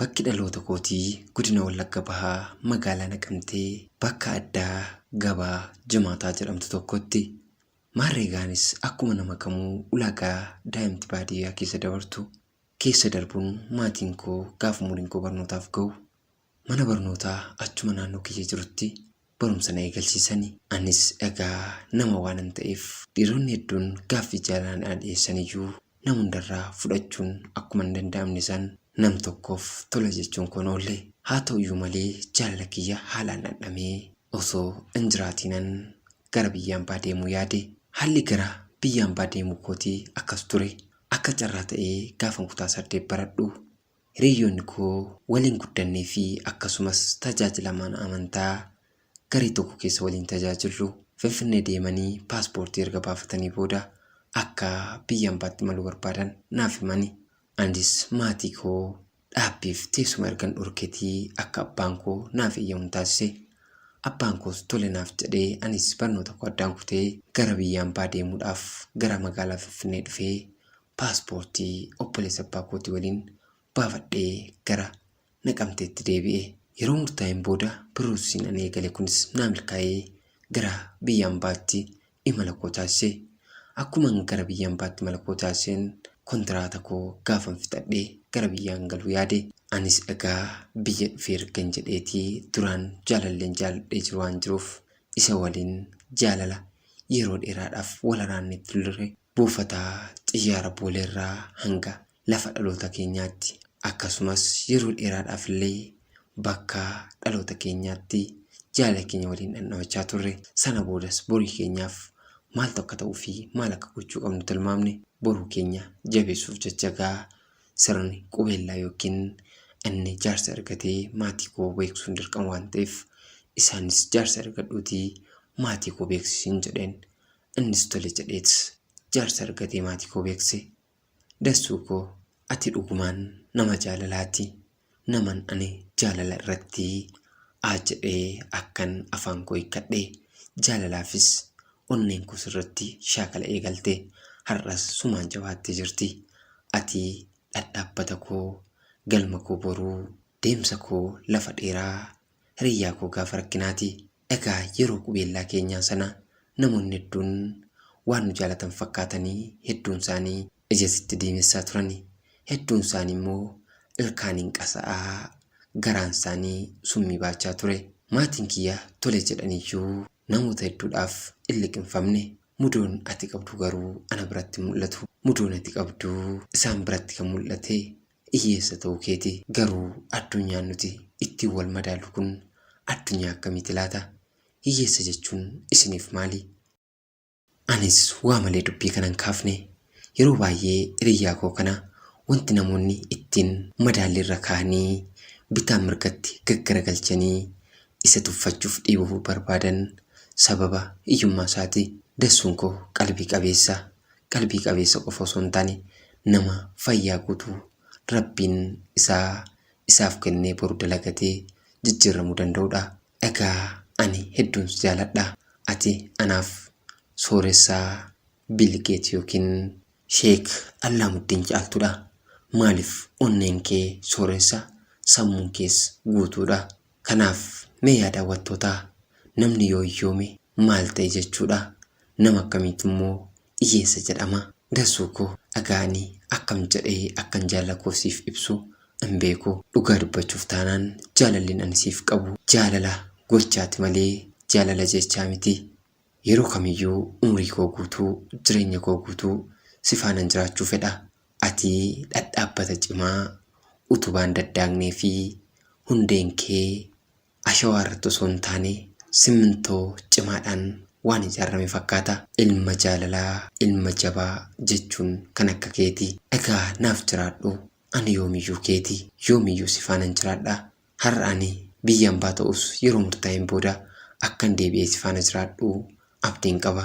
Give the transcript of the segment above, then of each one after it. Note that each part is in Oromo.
Bakki dhaloota kootii Godina Wallagga Bahaa Magaalaa Naqamtee bakka addaa Gabaa Jimaataa jedhamtu tokkotti. Maarree egaa anis akkuma nama kamuu ulaagaa daa'imti baadiyyaa keessa dabartu keessa darbuun maatiin koo gaafa umuriin koo barnootaaf gahu mana barnootaa achuma naannoo kiyya jirutti barumsa na eegalsiisani. Anis egaa nama waanan ta'eef dhiironni hedduun gaaffii jaalalaa naa dhiyeessaniyyuu nama hundarraa fudhachuun akkuma hin danda'amne san nam tokkoof tole jechuun koon oolle. Haa ta'uyyuu malee jaalala kiyya haalaan dhandhamee osoo hin jiraatiinan gara biyya ambaa deemuu yaade. Haalli gara biyya ambaa deemuu kootii akkas ture. Akka carraa ta'ee gaafan kutaa saddeet baradhu hiriyyoonni koo waliin guddannee fi akkasumas tajaajilamaan amantaa garee tokko keessa waliin tajaajillu Finfinnee deemanii paaspoortii erga baafatanii booda akka biyya ambaatti imaluu barbaadan naaf himani. Anis maatii koo dhaabbiif teessuma ergan dhorketii akka abbaan koo naaf eeyyamun taasise. Abbaan koos tole naaf jedhee anis barnoota koo addaan kutee gara biyya ambaa deemuudhaaf gara magaalaa Finfinnee dhufee paaspoortii obboleessa abbaa kootii waliin baafadhee gara Naqamteetti deebi'e. Yeroo murtaa'een booda piroosesiin ani eegale kunis naa milkaa'ee gara biyya ambaatti imala koo taasise. Akkuman gara biyya ambaatti imala koo taasiseen kontiraata koo gaafan fixadhe gara biyyaan galuu yaade. Anis egaa biyya dhufee ergan jedheetii duraan jaalalleen jaaladhee jiru waan jiruuf isa waliin jaalala yeroo dheeraadhaaf wal haraannee turre Buufata xiyyaara Booleerraa hanga lafa dhaloota keenyaatti akkasumas yeroo dheeraadhaafillee bakka dhaloota keenyaatti jaalala keenya waliin dhandhamachaa turre. Sana boodas borii keenyaaf maaltu akka ta'uu fi maal akka gochuu qabnu tilmaamne boruu keenya jabeessuuf jecha egaa sirni qubeellaa yookiin inni jaarsa ergatee maatii koo beeksisuun dirqama waan ta'eef isaanis jaarsa ergadhuutii maatii koo beeksisiin jedheen. Innis tole jedheet jaarsa argatee maatii koo beekse. Dassuu koo ati dhugumaan nama jaalalaati. Naman ani jaalala irratti aa jedhee akkan afaan koo hiikkadhe. Jaalalaafis onneen koo sirratti shaakala eegalte. Har'as sumaan jabaattee jirti. Ati dhadhaabbata koo, galma koo boruu, deemsa koo lafa dheeraa, hiriyyaa koo gaafa rakkinaati. Egaa yeroo qubeellaa keenyaa sana namoonni hedduun waan nu jaalatan fakkaatanii hedduun isaanii ija sitti diimessaa turani. Hedduun isaanii immoo ilkaaniin qasa'aa garaan isaanii summii baachaa ture. Maatiin kiyya tole jedhaniyyuu namoota hedduudhaaf in liqimfamne. Mudoon ati qabdu garuu ana biratti hin mul'atu. Mudoon ati qabdu isaan biratti kan mul'ate Hiyyeessa ta'uu keeti. Garuu addunyaan nuti ittiin wal madaallu kun addunyaa akkamiiti laata? Hiyyeessa jechuun isiniif maali? Anis waa malee dubbii kana hin kaafne. Yeroo baay'ee hiriyyaa koo kana wanti namoonni ittiin madaalli irra kaa'anii bitaa mirgatti gaggaragalchanii isa tuffachuuf dhiibuu barbaadan sababa hiyyummaa isaati. Dassuun koo qalbii qabeessa. qalbii qabeessa qofa osoo hin taane nama fayyaa guutuu Rabbiin isaa isaaf kennee boru dalagatee jijjiirramuu danda'udha. Egaa ani hedduun si jaaladha. Ati anaaf sooressa Bill Gate yookiin Sheek Allaamuddin caaltudha. Maaliif onneen kee sooressa sammuun kees guutuudha. Kanaaf mee yaa daawwattootaa namni yoo hiyyoome maal ta'e jechuudha? Nama akkamiitu immoo hiyyeessa jedhama? Dasuu koo dhagaa ani akkam jedhee akkan jaalala koo siif ibsu hin beeku. Dhugaa dubbachuuf taanaan jaalallin ani siif qabu jaalala gochaati malee jaalala jechaa miti. Yeroo kamiyyuu umrii koo guutuu, jireenya koo guutuu si faanan jiraachuu fedha. Ati dhadhaabbata cimaa utubaan daddaagnee fi hundeen kee ashawaa irratti osoo hin taane simmintoo cimaadhaan waan ijaarame fakkaata. Ilma jaalalaa, ilma jabaa jechuun kan akka keeti. Egaa naaf jiraadhu, ani yoomiyyuu keeti. Yoomiyyuu si faanan jiraadha. Har'a ani biyya ambaa ta'us yeroo murtaa'een booda akkan deebi'ee si faana jiraadhu abdiin qaba.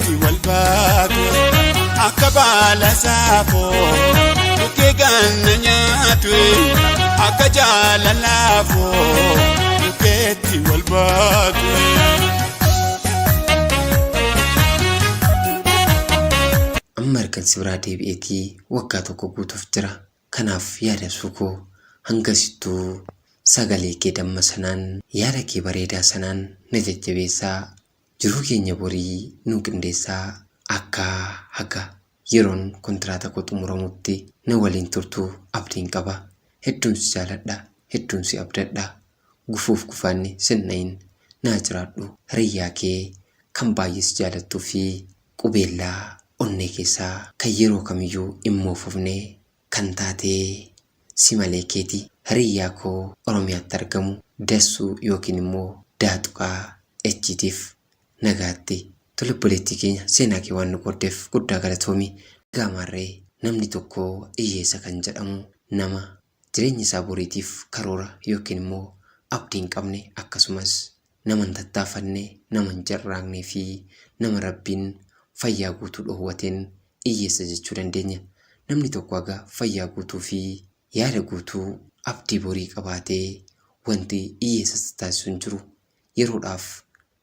irratti wal baatu akka baala saafoo bukkee ganna nyaatu akka jaalalaafoo bukkeetti wal baatu. amma ergan si biraa deebi'eetii waggaa tokko guutuuf jira kanaaf yaada ibsuu koo hangasittuu sagalee kee damma sanaan yaada kee bareedaa sanaan na jajjabeessaa Jiruu keenya borii nuu qindeessaa akkaa haga yeroon kontiraata koo xumuramutti na waliin turtu abdiin qaba. Hedduun si jaaladha hedduun si abdadha. Gufuuf gufaanni sin dhayin naa jiraadhu hiriyyaa kee kan baay'ee si jaalattuu fi qubeellaa onnee keessaa kan yeroo kamiyyuu hin moofofne kan taatee simalee keeti hariiyyaa koo oromiyaatti argamu dassuu yookiin immoo daa tuqaa H tiif nagaatti tole obboleettii keenya seenaa kee waan nu qooddef guddaa galatoomi egaa maarree namni tokko iyyeessa kan jedhamu nama jireenya isaa boriitiif karoora yookiin immoo abdii hin qabne akkasumas Nama hin tattaafanne, nama hin carraaqnee fi nama Rabbiin fayyaa guutuu dhoowwateen iyyeessa jechuu dandeenya. Namni tokko haga fayyaa guutuu fi yaada guutuu abdii borii qabaatee wanti iyyeessa isa taasisu hin jiru. Yeroodhaaf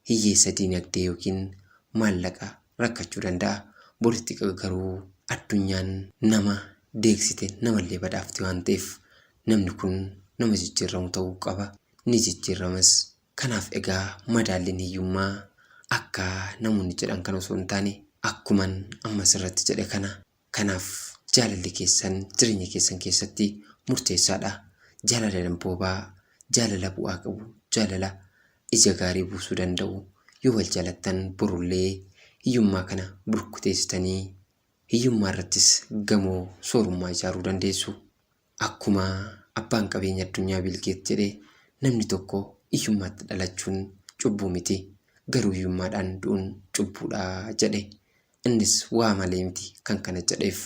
hiyyeessa diinagdee yookiin maallaqa rakkachuu danda'a. Boritti garuu addunyaan nama deegsite namallee badhaafti waan ta'eef namni kun nama jijjiirramu ta'uu qaba. ni jijjiirramas. Kanaaf egaa madaalliin hiyyummaa akka namoonni jedhan kana osoo hin taane akkuman amma asirratti jedhe kana. Kanaaf jaalalli keessan jireenya keessan keessatti murteessaadha. Jaalala damboobaa, jaalala bu'aa qabu, jaalala ija gaarii buusuu danda'u. Yoo wal jaalattan borullee hiyyummaa kana burkuteessitanii hiyyummaa irrattis gamoo soorummaa ijaaruu dandeessu. Akkuma abbaan qabeenya addunyaa Biil Geet jedhe namni tokko iyyummaatti dhalachuun cubbuu miti, garuu iyyummaadhaan du'un cubbuudha jedhe. Innis waa malee miti kan kana jedheef.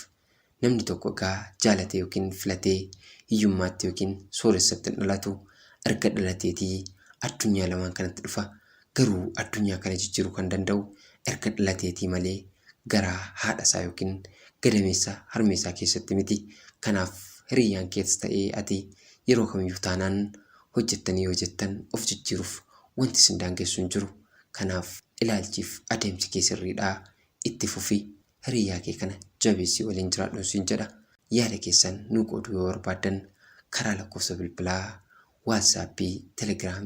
Namni tokko egaa jaalatee yookiin filatee iyyummaatti yookiin sooressatti hin dhalatu. Erga dhalateetii addunyaa lamaan kanatti dhufa. Garuu addunyaa kana jijjiiru kan danda'u erga dhalateetii malee garaa haadha isaa yookiin gadameessa harmee isaa keessatti miti. Kanaaf hiriyyaan keets ta'ee ati yeroo kamiyyuu taanaan hojjettanii yoo jettan of jijjiiruuf wanti isin daangessu hin jiru. Kanaaf ilaalchiif adeemsi kee sirriidha. Itti fufi. Hiriyyaa kee kana jabeessii waliin jiraadhun siin jedha. Yaada keessan nuu qooduu yoo barbaaddan karaa lakkoofsa bilbilaa, WhatsApp, Telegram,